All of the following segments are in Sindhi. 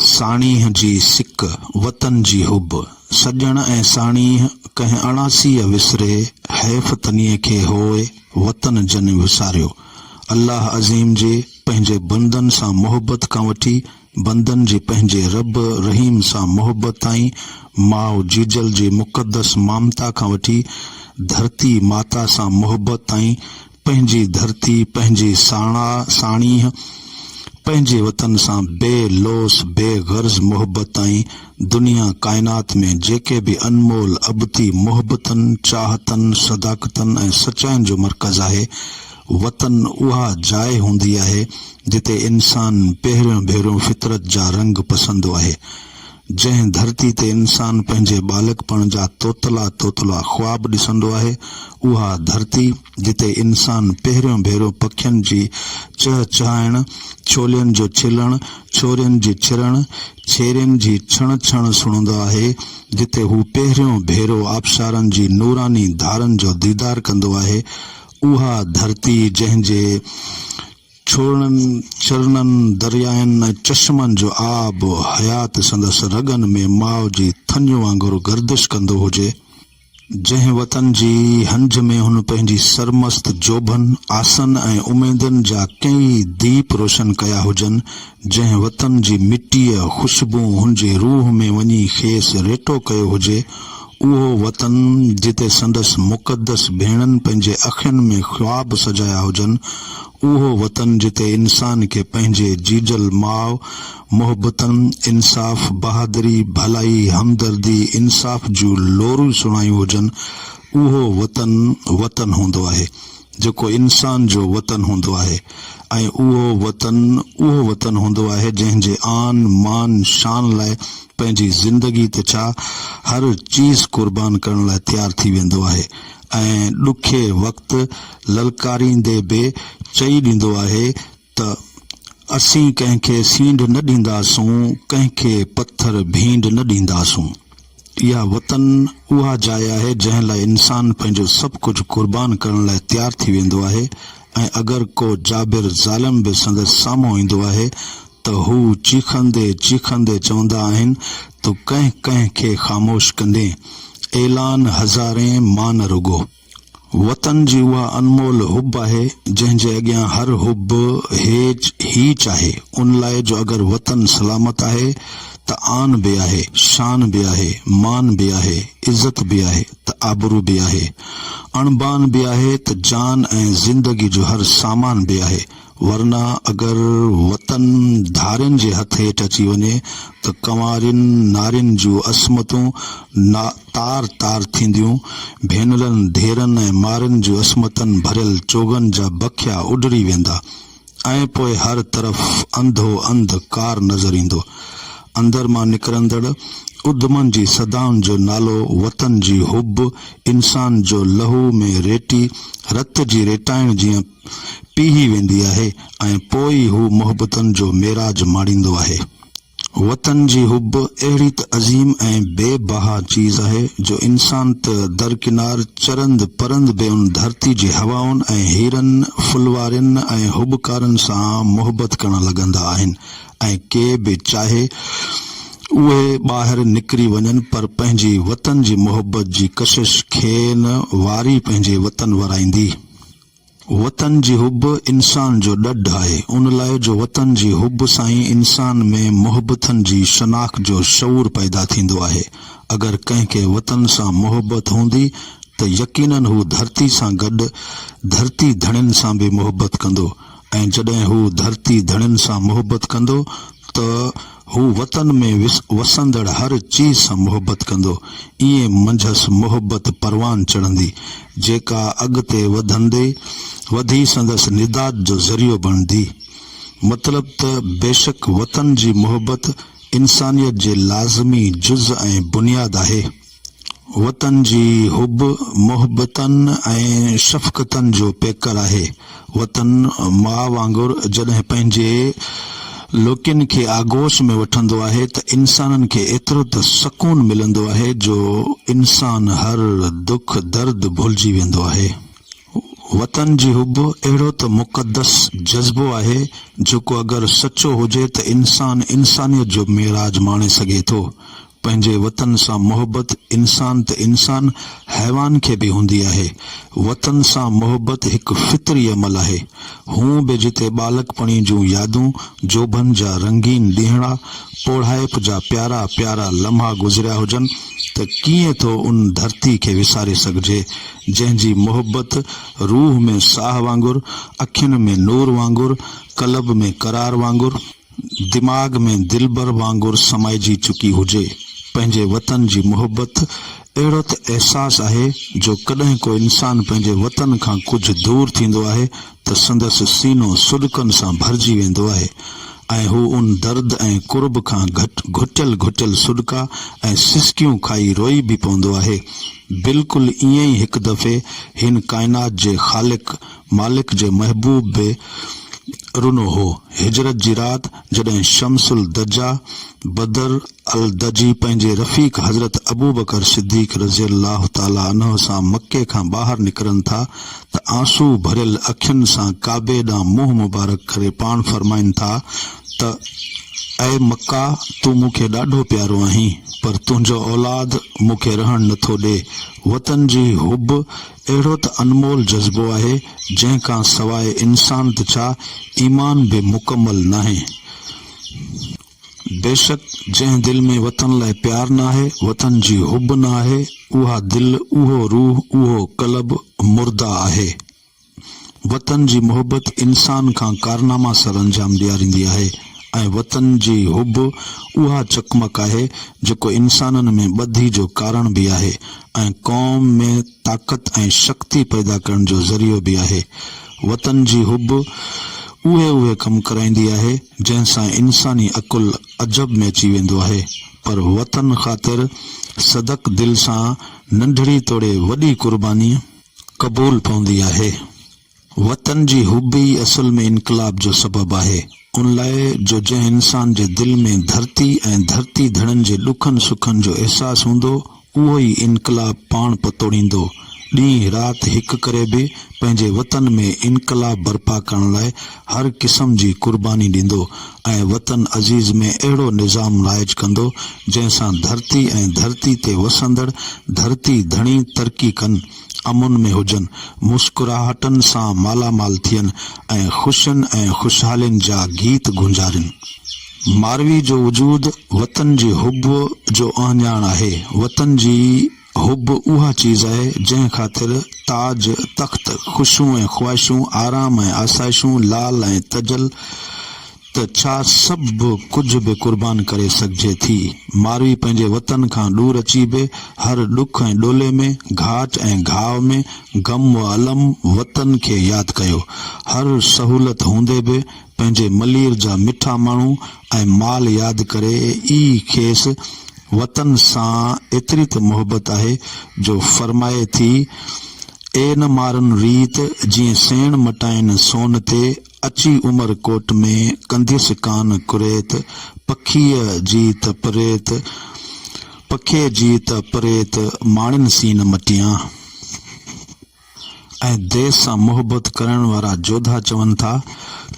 ساڻيهه جي سڪ، وطن جي حب، سڄڻ ۽ ساڻيهه ڪنهن اڻاسيء وسري، حيف تنيء کي هوء وطن جني وساريو. الله عظيم جي پنهنجي بندن سان محبت کان وٺي بندن جي پنهنجي رب رحيم سان محبت تائين، ماء جيجل جي مقدس مامتا کان وٺي ڌرتي ماتا سان محبت تائين پنهنجي ڌرتي، پنهنجي ساڻا ساڻيهه، پنهنجي وطن سان بي لوث، بي غرض محبت ۽ دنيا ڪائنات ۾ جيڪي به انمول ابتي محبتن، چاهتن، صداقتن ۽ سچائين جو مرڪز آهي، وطن اها جاء هوندي آهي، جتي انسان پهريون ڀيرو فطرت جا رنگ پسندو آهي. جنهن ڌرتي تي انسان پنهنجي ٻالڪپڻ جا توتلا توتلا خواب ڏسندو آهي، اها ڌرتي جتي انسان پهريون ڀيرو پکين جي چهه چهائڻ، ڇولين جو ڇلڻ، ڇورين جي ڇرڻ، ڇيرين جي ڇڻ ڇڻ سڻندو آهي، جتي هو پهريون ڀيرو آبشارن جي نوراني ڌارن جو ديدار ڪندو آهي، اها ڌرتي جنهن جي ڇوڙنن، چرنن، دريائن ۽ چشمن جو آب و حيات سندس رڳن ۾ ماء جي ٿڃ وانگر گردش ڪندو هجي، جنهن وطن جي هنج ۾ هن پنهنجي سرمست جوڀن، آسن ۽ اميدن جا ڪيئي ديپ روشن ڪيا هجن، جنهن وطن جي مٽيء خوشبوء هن جي روح ۾ وڃي کيس ريٽو ڪيو هجي، اهو وطن جتي سندس مقدس ڀيڻن پنهنجي اکين ۾ خواب سجايا هجن، اهو وطن جتي انسان کي پنهنجي جيجل ماء محبتن، انصاف، بهادري، ڀلائي، همدردي، انصاف جون لوريون سڻايون هجن، اهو وطن وطن هوندو آهي، جيڪو انسان جو وطن هوندو آهي ۽ اهو وطن اهو وطن هوندو آهي جنهن جي آن، مان، شان لاء پنهنجي زندگي ته ڇا هر چيز قربان ڪرڻ لاء تيار ٿي ويندو آهي ۽ ڏکي وقت للڪاريندي به چئي ڏيندو آهي ته اسين ڪنهن کي سينڍ نه ڏينداسون ڪنهن کي پٿر ڀينڊ نه ڏينداسون اها وطن اها جاء آهي جنهن لاء انسان پنهنجو سڀ ڪجهه قربان ڪرڻ لاء تيار ٿي ويندو آهي ۽ اگر ڪو جابر ظالم به سندس سامهون ايندو آهي ته هو چيخندي چيخندي چوندا آهن، تو ڪنهن ڪنهن کي خاموش ڪندين؟ اعلان هزارين مان نه رڳو. وطن جي اها انمول حب آهي، جنهن جي اڳيان هر حب هيچ هيچ آهي، ان لاء جو اگر وطن سلامت آهي ته آن به آهي، شان به آهي، مان به آهي، عزت به آهي ته آبرو به آهي، اڻبان به آهي ته جان ۽ زندگي جو هر سامان به آهي، ورنه اگر وطن ڌارين جي هٿ هيٺ اچي وڃي ته ڪنوارين نارين جون عصمتون تار تار ٿينديون، ڀينرن، ڌيئرن ۽ مارين جون عصمتن ڀريل چوغن جا بکيا اڊڙي ويندا ۽ پوء هر طرف انڌو انڌ ڪار نظر ايندو. اندر مان نڪرندڙ اڌمن جي صدائن جو نالو وطن جي حب، انسان جو لهو ۾ ريٽي رت جي ريٽائڻ جيان، پيهي ويندي آهي ۽ پوء ئي هو محبتن جو معراج ماڻيندو آهي. وطن جي حب اهڙي ته عظيم ۽ بي بها چيز آهي جو انسان ته درڪنار چرند پرند به ان ڌرتي جي هوائن ۽ هيرن ڦلوارين ۽ حبڪارن سان محبت ڪرڻ لڳندا آهن ۽ ڪي به چاهي اهي ٻاهر نڪري وڃن پر پنهنجي وطن جي محبت جي ڪشش کين واري پنهنجي وطن ورائيندي وطن جي حب انسان جو ڏڍ آهي ان لاء جو وطن جي حب سان ئي انسان ۾ محبتن جي شناخت جو شعور پيدا ٿيندو آهي اگر ڪنهن کي وطن سان محبت هوندي ته يقينن هو ڌرتي سان گڏ ڌرتي ڌڻين سان به محبت ڪندو ۽ جڏهن هو ڌرتي ڌڻين سان محبت ڪندو ته هو وطن ۾ وسندڙ هر چيز سان محبت ڪندو. ائين منجهس محبت پروان چڙهندي، جيڪا اڳتي وڌندي وڌي سندس نجات جو ذريعو بڻندي. مطلب ته بيشڪ وطن جي محبت انسانيت جي لازمي جز ۽ بنياد آهي. وطن جي حب محبتن ۽ شفقتن جو پيڪر آهي. وطن ماء وانگر جڏهن پنهنجي لوڪين کي آغوش ۾ وٺندو آهي ته انسانن کي ايترو ته سڪون ملندو آهي جو انسان هر دک درد ڀلجي ويندو آهي. وطن جي حب اهڙو ته مقدس جذبو آهي، جيڪو اگر سچو هجي ته انسان انسانيت جو معراج ماڻي سگهي ٿو. پنهنجي وطن سان محبت انسان ته انسان حيوان کي به هوندي آهي. وطن سان محبت هڪ فطري عمل آهي. هونء به جتي ٻالڪپڻي جون يادون، جوڀن جا رنگين ڏينهڙا، پوڙهائپ جا پيارا پيارا لمحا گذريا هجن ته ڪيئن ٿو ان ڌرتي کي وساري سگهجي. جنهن جي محبت روح ۾ ساهه وانگر، اکين ۾ نور وانگر، قلب ۾ قرار وانگر، دماغ ۾ دلبر وانگر سمائجي چڪي هجي. پنهنجي وطن جي محبت اهڙو ته احساس آهي جو ڪڏهن ڪو انسان پنهنجي وطن کان ڪجهه دور ٿيندو آهي ته سندس سينو سڏڪن سان ڀرجي ويندو آهي ۽ هو ان درد ۽ ڪرب کان گهٽيل گهٽيل سڏڪا ۽ سسڪيون کائي روئي به پوندو آهي. بلڪل ائين ئي هڪ دفعي هن ڪائنات جي خالق مالڪ جي محبوب به رنو هو. هجرت جي رات جڏهن شمس الدجا، بدر، الدجي پنهنجي رفيق حضرت ابوبڪر صديق رضي الله تعاليٰ عنه سان مڪي کان ٻاهر نڪرن ٿا ته آنسو ڀريل اکين سان ڪعبي ڏانهن منهن مبارڪ ڪري پاڻ فرمائن ٿا ته اي مڪه تون مون کي ڏاڍو پيارو آهين پر تنهنجو اولاد مون کي رهڻ نٿو ڏي وطن جي حب اهڙو ته انمول جذبو آهي جنهن کان سواء انسان ته ڇا ايمان به مڪمل ناهي. بيشڪ جنهن دل ۾ وطن لاء پيار ناهي، وطن جي حب ناهي، اها دل، اهو روح، اهو قلب مرده آهي. وطن جي محبت انسان کان ڪارناما سر انجام ڏياريندي آهي ۽ وطن جي حب اها چقمق آهي جيڪو انسانن ۾ ٻڌي جو ڪارڻ به آهي ۽ قوم ۾ طاقت ۽ شڪتي پيدا ڪرڻ جو ذريعو به آهي. وطن جي حب اهي اهي ڪم ڪرائيندي آهي. جنهن سان انساني عقل عجب ۾ اچي ويندو آهي پر وطن خاطر صدق دل سان ننڍڙي توڙي وڏي قرباني قبول پوندي آهي. وطن جي حب ئي اصل ۾ انقلاب جو سبب آهي ان لاء جو جنهن انسان جي دل ۾ ڌرتي ۽ ڌرتي ڌڻن جي ڏکن سکن جو احساس هوندو اهو ئي انقلاب پاڻ پتوڙيندو. ڏينهن رات هڪ ڪري به پنهنجي وطن ۾ انقلاب برپا ڪرڻ لاء هر قسم جي قرباني ڏيندو ۽ وطن عزيز ۾ اهڙو نظام رائج ڪندو جنهن سان ڌرتي ۽ ڌرتي تي وسندڙ ڌرتي ڌڻي ترقي ڪن، امن ۾ هجن، مسڪراهٽن سان مالامال ٿين ۽ خوشين ۽ خوشحالين جا گيت گونجارين. ماروي جو وجود وطن جي حب جو اهڃاڻ آهي. وطن جي حب اها چيز آهي، جنهن خاطر تاج، تخت، خوشيون ۽ خواهشون، آرام ۽ آسائشون، لال ۽ تجل ته ڇا سڀ ڪجهه به قربان ڪري سگهجي ٿي. ماروي پنهنجي وطن کان ڏور اچي به هر ڏک ۽ ڏولي ۾، گهاٽ ۽ گهاء ۾، غم و الم وطن کي ياد ڪيو. هر سهولت هوندي به پنهنجي ملير جا مٺا ماڻهو ۽ مال ياد ڪري ئي کيس وطن سان ايتري ته محبت آهي جو فرمائي ٿي، اي نه مارن ريت، جيئن سيڻ مٽائين سون تي، اچي عمر ڪوٽ ۾ ڪنديس ڪان ڪريت، پکيء جي ته پريت، پکيء جي ته پريت، ماڻين سين مٽيان. ۽ ديس سان محبت ڪرڻ وارا جوڌا چون ٿا،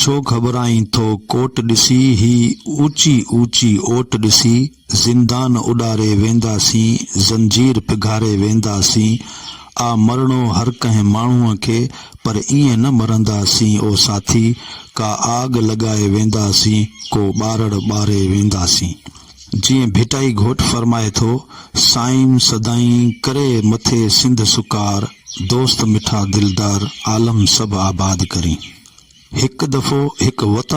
ڇو گهٻرائين ٿو ڪوٽ ڏسي، هي اوچي اوچي اوٽ ڏسي، زندان اڏاري وينداسين، زنجير پگهاري وينداسين، آ مرڻو هر ڪنهن ماڻهوء کي، پر ائين نه مرنداسين او ساٿي، ڪا آڳ لڳائي وينداسين، ڪو ٻارڙ ٻاري وينداسين. جيئن ڀٽائي گهوٽ فرمائي ٿو، سائين سدائين ڪري مٿي سنڌ سڪار، دوست مٺا دلدار، عالم سڀ آباد ڪرين. هڪ دفعو هڪ وطن.